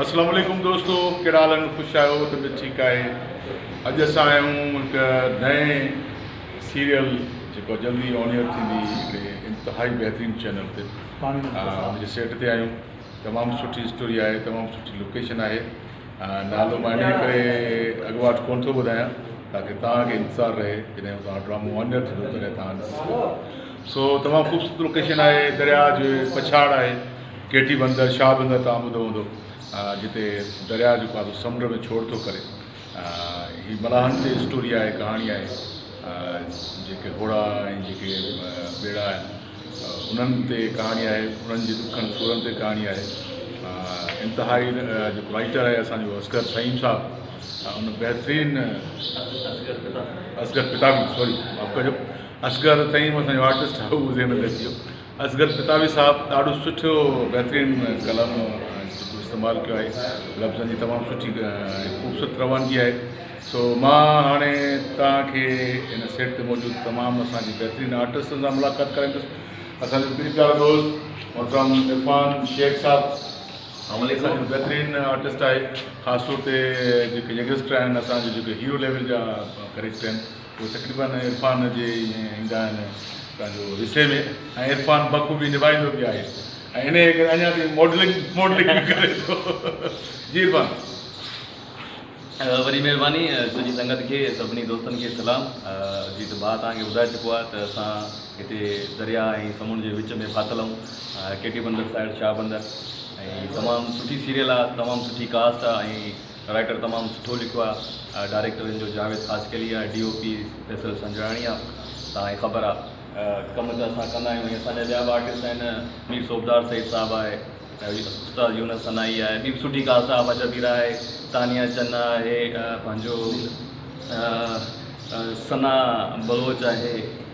اسلام عليڪم دوستو ڪهڙا حال آهن خوش آهيو طبيعت ٺيڪ آهي اڄ اسان آيا آهيون هڪ نئين سيريل جيڪو جلدي آن ايئر ٿيندي هڪڙي انتهائي بهترين چينل تي ان جي سيٽ تي آيون تمام سٺي اسٽوري آهي تمام سٺي لوڪيشن آهي نالو مان ان ڪري اڳواٽ ڪون ٿو ٻڌايان تاڪي توهان کي انتظار رهي جڏهن توهان ڊرامو آن ايئر ٿيندو تڏهن توهان سو تمام خوبصورت لوڪيشن آهي درياء جي پڇاڙ آهي ڪيٽي بندر، شاهه بندر توهان ٻڌو هوندو جتي درياء جو پاسو سمنڊ ۾ ڇوڙ ٿو ڪري. هي ملاحن تي اسٽوري آهي، ڪهاڻي آهي. جيڪي هوڙا ۽ جيڪي ٻيڙا آهن انهن تي ڪهاڻي آهي، انهن جي ڏکن سورن تي ڪهاڻي آهي. انتهائي جيڪو رائيٽر آهي اسان جو اصغر فهيم صاحب ان بهترين اصغر ڪتابي سوري معاف ڪجو اصغر فهيم اسان جو آرٽسٽ هو ذهن ۾ اچي ويو اصغر پتاوي صاحب ڏاڍو سٺو بهترين ڪلام استعمال ڪيو آهي لفظن جي تمام سٺي خوبصورت روانگي آهي سو مان هاڻي توهان کي هن سيٽ تي موجود تمام اسان جي بهترين آرٽسٽن سان ملاقات ڪرائيندس اسان جو پير پيارو دوست محترم عرفان شيخ صاحب بهترين آرٽسٽ آهي خاص طور تي جيڪي يگسٽر آهن اسان جي جيڪي هيرو ليول جا ڪريڪٽر آهن اهي تقريبن عرفان جي ئي ۾ ايندا آهن پنهنجو حصي ۾ ۽ عرفان بخوبي نڀائيندو به آهي ۽ انهيء ڪري اڃا تائين ماڊلنگ ماڊلنگ به ڪري ٿو جي عرفان. وڏي مهرباني سڄي سنگت کي سڀني دوستن کي سلام جيت ڀاء توهان کي ٻڌائي چڪو آهي ته اسان هتي درياء ۽ سمنڊ جي وچ ۾ ڦاٿل آهيون ڪي ٽي بندر سائيڊ شاهه بندر ۽ تمام سٺي سيريل آهي تمام سٺي ڪاسٽ آهي ۽ رائٽر تمام سٺو لکيو آ ڊائريڪٽر هن جو جاويد خاصخيلي آ D O P Faisal Sanjrani آ تان هي خبر آ. ڪم ته اسان ڪندا آهيون ۽ اسان جا ٻيا به آرٽسٽ آهن مير صوبدار سيد صاحب آهي استاد يونس سنائي آهي ٻي به سٺي ڪاسٽ آ آفا شبيرا آهي تانيا چنا آهي پنهنجو ثنا بلوچ آهي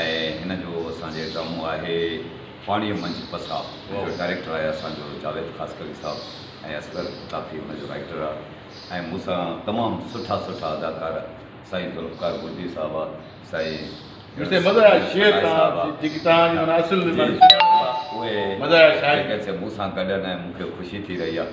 ۽ هن جو اسان جي ڊرامو آهي پاڻيء منجهه پساء ان جو ڊائريڪٽر آهي اسان جو جاويد خاصخيلي صاحب ۽ اصغر ڪافي ان جو رائيٽر آهي ۽ مون سان تمام سٺا سٺا اداڪار سائين ذوالفقار بجلي صاحب آهي سائين اهي جيڪي مون سان گڏ آهن ۽ مون کي خوشي ٿي رهي آهي.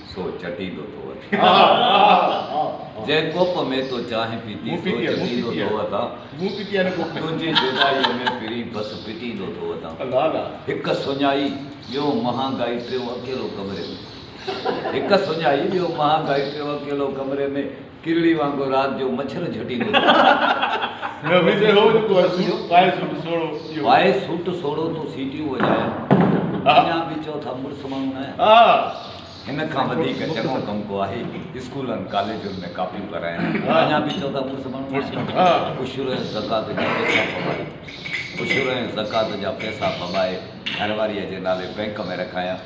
سو چٽيندو ٿو وتان جنهن ڪوپ ۾ تو چانهه پيتي سو چٽيندو ٿو وتان تنهنجي جدائيء ۾ پرين بس پٽيندو ٿو وتان هڪ سڃائي ٻيو مهانگائي ٽيون اڪيلو ڪمري ۾هڪ سڃائي ٻيو مهانگائي ٽيون اڪيلو ڪمري ۾. ڪرڙي وانگر رات جو مڇر جهٽيندو ٿي. وائي سوٽ سوڙهو تون سيٽيون وڄايان اڃان به چئو ٿا مڙس ماڻهو نه آهيان. هن کان وڌيڪ چڱو ڪم ڪو آهي اسڪولن ڪاليجن ۾ ڪاپيون ڪرايان اڃان به چئو ٿا مڙس ماڻهو نه آهيان. عشر ۽ زڪوات جا پئسا ڀڀائي عشر ۽ زڪوات جا پئسا ڀڀائي گهرواريء جي نالي بئنڪ ۾ رکايان.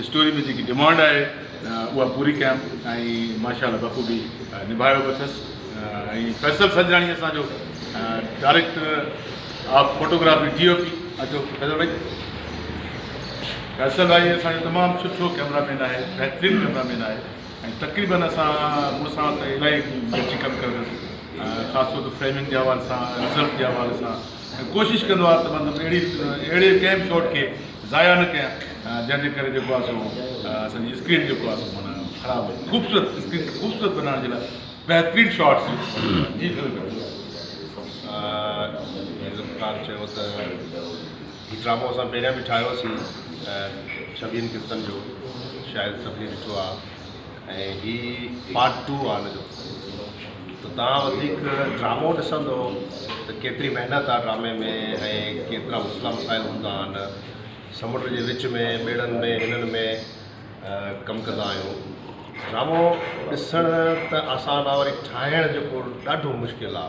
اسٽوري ۾ جيڪي ڊمانڊ آهي اها پوري ڪيم ۽ ماشاء الله بخوبي نڀايو به اٿس ۽ فيصل سنجراڻي اسان جو director of photography D O P اچو فيصل بھائي فيصل بھائي اسان جو تمام سٺو ڪيمرا مين آهي بهترين ڪيمرا مين آهي ۽ تقريبن اسان مون سان ته الاهي گڏجي ڪم ڪيو اٿس خاص طور ته فريمنگ جي حوالي سان رزلٽ جي حوالي سان ڪوشش ڪندو آهيان ته مطلب اهڙي اهڙي ڪنهن به شاٽ کي ضايع نه ڪيان جنهن جي ڪري جيڪو آهي سو اسان جي اسڪرين جيڪو آهي سو معنيٰ خراب وڃي خوبصورت اسڪرين کي خوبصورت بنائڻ جي لاء بهترين شاٽس جي ذوالفقار چيو ته هي ڊرامو اسان پهريان به ٺاهيوسي شبين ڪرتن جو شايد سڀني ڏٺو آهي ۽ هي پارٽ ٽو آ ان جو ته تان وڌيڪ ڊرامو ڏسندو ته ڪيتري محنت آ ڊرامي ۾ ۽ ڪيترا مسئلا مسائل هوندا آن سمنڊ جي وچ ۾ ٻيڙن ۾ هنن ۾ ڪم ڪندا آهيون ڊرامو ڏسڻ ته آسان آ وري ٺاهڻ جيڪو ڏاڍو مشڪل آ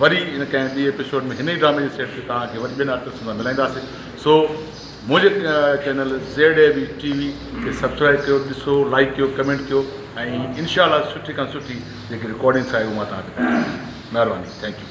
وري ان ڪنهن ٻي ايپيسوڊ ۾ هن ئي ڊرامي جي سيٽ تي توهان کي وري ٻين آرٽسٽن سان ملائينداسين سو منهنجي channel Z A V T V کي سبسڪرائب ڪيو ڏسو لائڪ ڪيو ڪمينٽ ڪيو ۽ انشاء الله سٺي کان سٺي جيڪي رڪارڊنگس آهي اهو مان توهان کي ڏيکاريندس مهرباني ٿينڪ يو